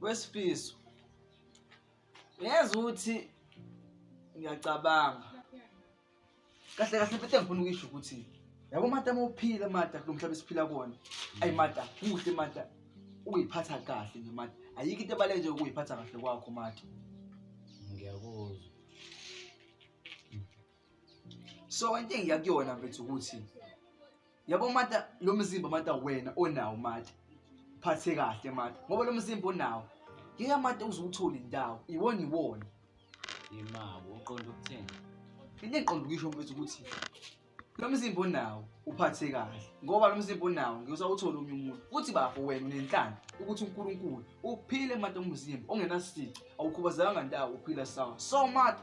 wesifiso uyazi ukuthi ngiyacabanga kahle kahle bethe ngifuna ukuyisho ukuthi yabo mata mawuphila mata kulo mhlaba esiphila kuwona ayi mata kuhle mata uyiphatha kahle nje mata ayikho into ebaleke nje ukuyiphatha kahle kwakho mata ngiyakuzwa so into engiya kuyona mfethu ukuthi yabo mata lo mzimba mata wena onawo mata phathe kahle mata ngoba lo mzimba onawo ngeke mata uze uthole indawo iwona iwona imabo uqonda ukuthini into engiqonda ukuyisho mfethu ukuthi lo mzimba onawo uphathe kahle ngoba lo mzimba onawo ngiyosawuthole omunye umuntu futhi bafo wena unenhlanga ukuthi unkulunkulu uphile mata umzimba ongenasici awukhubazekanga ndawo uphila sawa so mata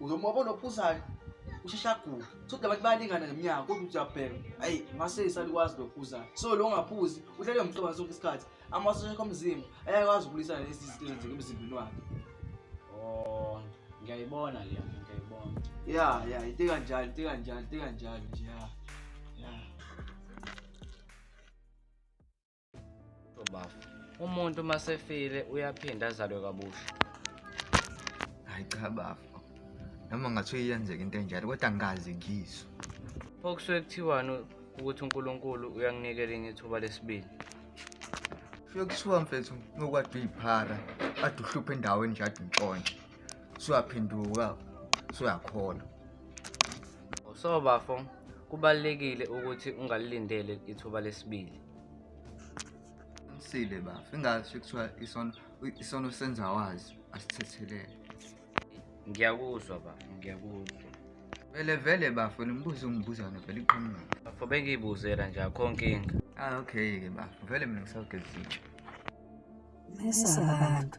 Uzomuka wabona ophuzayo usheshe agule sokuthi abantu bayalingana ngeminyaka kodwa uthi uyabheka ayi ngase isalikwazi lokuphuzayo so lo ngaphuzi uhlele mhlobana sonke isikhathi amasosha akho omzimba ayakwazi ukulwisana lezi zinto ezenzeka emzimbeni wakhe oh ngiyayibona le nto ngiyayibona ya ya into kanjalo into kanjalo into kanjalo nje ya ya Bafo. Umuntu uma sefile uyaphinde azalwe kabusha. Hayi cha bafo. Noma ngathiwa iyenzeka into enjalo kodwa ngikaze ngizwe. Pho kusuke kuthiwani ukuthi uNkulunkulu uyanginikela enye ithuba lesibili? Kusuke kuthiwa mfethu ngokwade uyiphara ade uhluphe endaweni nje ade untshontshe. Suyaphenduka suyakholwa. So bafo kubalulekile ukuthi ungalilindele ithuba lesibili. Sile bafo ingathi kuthiwa isono isono senza wazi asithethelele. Ngiyakuzwa bafo ngiyakuzwa. Vele vele bafo nimbuze umbuzana vele iqhamuka. Bafo bengiyibuzela nje akho nkinga. Ah okay ke bafo vele mina ngisawugezitshe. Mesa abantu.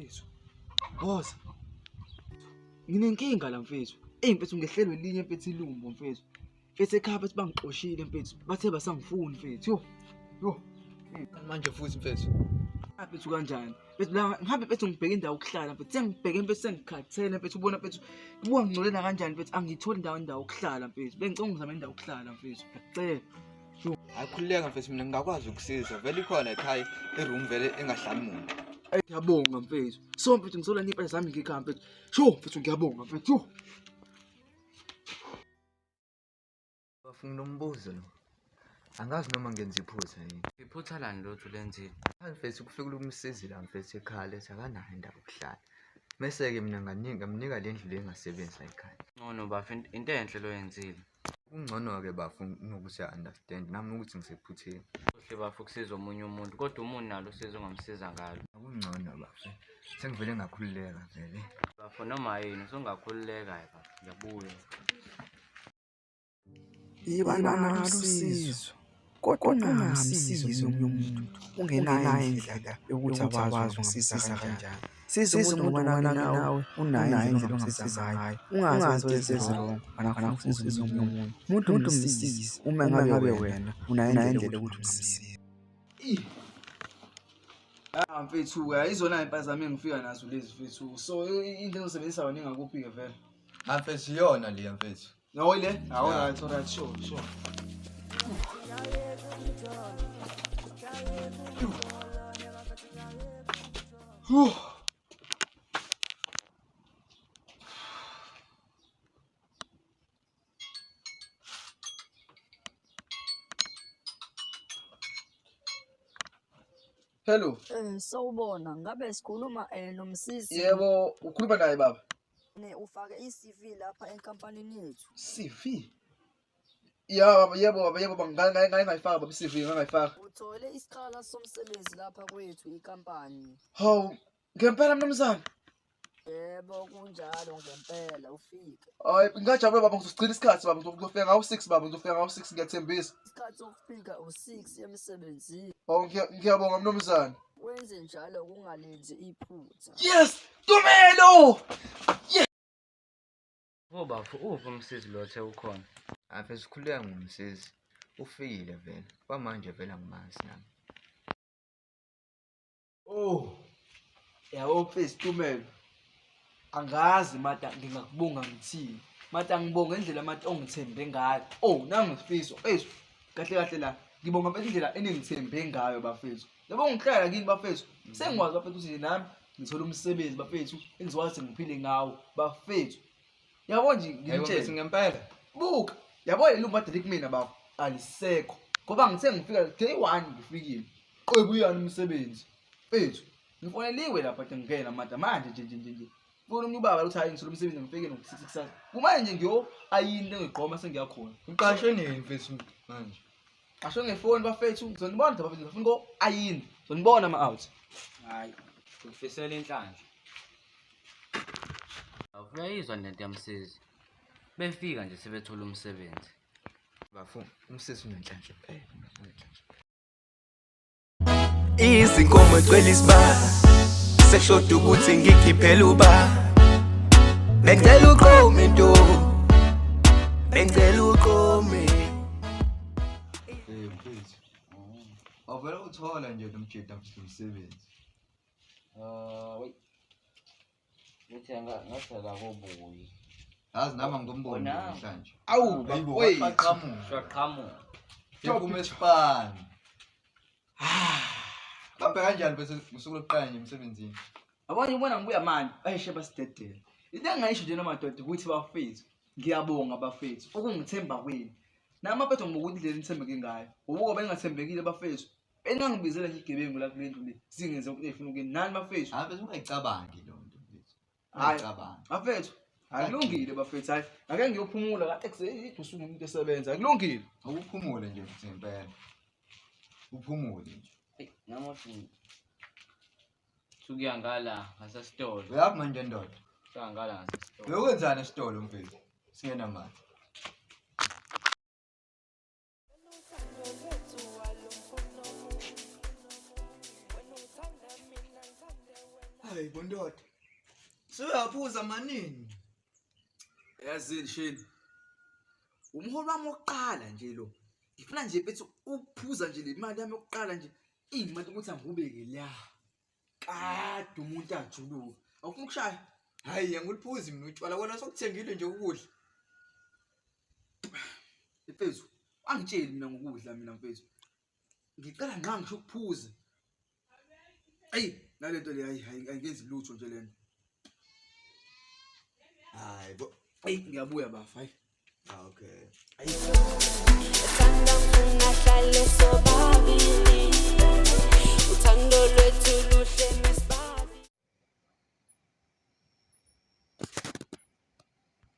mfethu. Boza. Nginenkinga la mfethu. Ey mfethu ngehlelwe linye mfethu ilumbo mfethu. Mfethu ekhaya bathi bangixoshile mfethu. Bathe basangifuni mfethu. Yo. Yo. Manje futhi mfethu. Aphethu kanjani? Mfethu la ngihambe mfethu ngibheke indawo yokuhlala mfethu. Sengibheke mfethu sengikhathele mfethu ubona mfethu kubuka ngingcolela kanjani mfethu angiyitholi indawo indawo yokuhlala mfethu. Bengicela ungizame indawo yokuhlala mfethu. Ngiyacela. Akhululeka mfethu mina ngingakwazi ukusiza. Vele ikhona ekhaya i-room vele engahlali muntu. Ey ngiyabonga mfethu. So mfethu ngizola nipa zami ngikhaya mfethu. Sho mfethu ngiyabonga mfethu. Bafuna umbuzo lo. Angazi noma ngenza iphutha yini. Iphutha lani lothu lenzile? Angifesi ukufika ukumsizi la mfethu ekhaya lethi akanayo indawo yokuhlala. Mese-ke mina nganika ngamnika le ndlu le engasebenzi la ekhaya. Ngcono bafo int- into enhle lo yenzile. Kungcono-ke bafo nokuthi a-understand nami ukuthi ngisephutheni. Kuhle bafo ukusiza omunye umuntu kodwa umuntu nalo usizo ongamsiza ngalo. Akungcono bafo. Sengivele ngakhululeka vele. Bafo noma yini usungakhululeka-ke bafo. Ngiyabuya. Yiba nalo usizo kodwa ungamsizi omunye umuntu ungenayo indlela yokuthi awazi ungasiza kanjani siza umuntu ngobanana nawe unayo indlela ongasiza ngayo ungazi wezezilongo anafuna usizo omunye umuntu umuntu umuntu umsize uma ngabe wena unayo indlela yokuthi umsize Ah mfethu ayizona impazamo engifika nazo lezi mfethu so into engizosebenzisa wena ingakuphi ke vele Mfethu iyona le mfethu. No ile? Awu right, right, sure, sure. Huh. Hello. Eh, sawubona. Ngabe sikhuluma eh nomsisi. Yebo, ukhuluma naye baba. Ne ufake i-CV lapha enkampanini yethu. CV. Ya baba yebo baba yebo baba ngake ngake ngake ngayifaka baba i-CV ngake ngayifaka. Uthole isikhala somsebenzi lapha kwethu inkampani. Hawu ngempela mnumzane. Yebo kunjalo ngempela ufike. Hayi ngingajabula baba ngizogcina isikhathi baba ngizofika ngawo 6 baba ngizofika ngawo 6 ngiyathembisa. Isikhathi sokufika u-6 emsebenzini. Hawu ngiya- ngiyabonga mnumzane. Wenze njalo kungalenzi iphutha. Yes! Tumelo! Wo bafo, uphi umsizi lo othe ukhona? Ave sikhuleka ngomsizi. Ufikile vele. Kwamanje vele angimazi nami. Oh. Yabo mfethu Tumelo. angazi mata ngingakubonga ngithini mata ngibonga indlela mata ongithembe ngayo oh nangu sifiso eish kahle kahle la ngibonga mfethu indlela eningithembe ngayo bafethu yabo ngihlala kini bafethu sengikwazi bafethu ukuthi nami ngithola umsebenzi bafethu engizokwazi ukuthi ngiphile ngawo bafethu yabo nje Hayi ngimtshele bafethu ngempela. buka yabo leli umbadeli kumina bafo alisekho ngoba ngithe ngifika day one ngifikile qebu uyani umsebenzi fethu Ngifoneliwe lapha ke ngikela mada manje nje nje nje. Fona umuntu ubaba uthi hayi ngisolo umsebenzi ngifike ngo-6 kusasa. Kumanje nje ngiyo ayini lengiqoma sengiyakhona. Uqashwe nini mfethu manje? Qashwe ngefoni bafethu ngizonibona nje bafethu ngifuna ngo ayini. Ngizonibona ama out. Hayi. Ngifisela inhlanhla. Awuyizwa lento yamsizi. Befika nje sebethola umsebenzi. Bafo umsizi unenhlanhla. Eh, unenhlanhla. izinkomo ecwela isibaya seshoda ukuthi ngikhiphela uba bengicela uqome ntombi bengicela uqome awuvele uthole nje nomjeda msebenzi Ngithi anga- ngathi akakobuyi. yazi nami angimboni Wena. namhlanje Awu, Ayibo, bafowethu. waqaqamuka. Shaqhamuka. Iphume esipani babhe kanjani bese ngosuku lokuqala nje emsebenzini Yabona ubona ngibuya manje. Ayi sheba sidedela. Into engayisho nje namadoda ukuthi bafethu ngiyabonga bafethu ukungithemba kwenu. Nami bafethu ngibuka indlela enithembeke ngayo. Ubuko bengathembekile bafethu. Enangibizela nje igebengu la kule ndlu le. Singenze ukuthi efuna ukuyini. Nani bafethu? Hayi bese ungayicabangi lo nto mfethu. Hayi. Ungayicabangi. Bafethu, akulungile bafethu. Hayi, ake ngiyophumula la ekuseni usuku umuntu esebenza. Akulungile. Ukuphumule nje futhi ngempela. Uphumule nje. Eyi, nami othi sukuya ngala ngasesitolo Uyaphi manje ndoda? sukuya ngala ngasesitolo Uyokwenzani esitolo mfethu? Singenamali. hayi bondoda suyaphuza manini yazini shini umholi wami wokuqala nje lo ngifuna nje bethi ukuphuza nje le mali yami yokuqala nje ingimali ukuthi angibeke la kade umuntu ajuluka awufuna ukushaya hayi yanguliphuzi mina utshwala wena sokuthengile nje ukudla mfethu angitsheli mina ngokudla mina mfethu ngicela nqa ngisho ukuphuza eyi nale nto le hayi hayi angenzi lutho nje le nto hayi bo eyi ngiyabuya bafa hayi Ah, okay. Uthanda ngifuna hlale sobabili Uthando lwethu luhle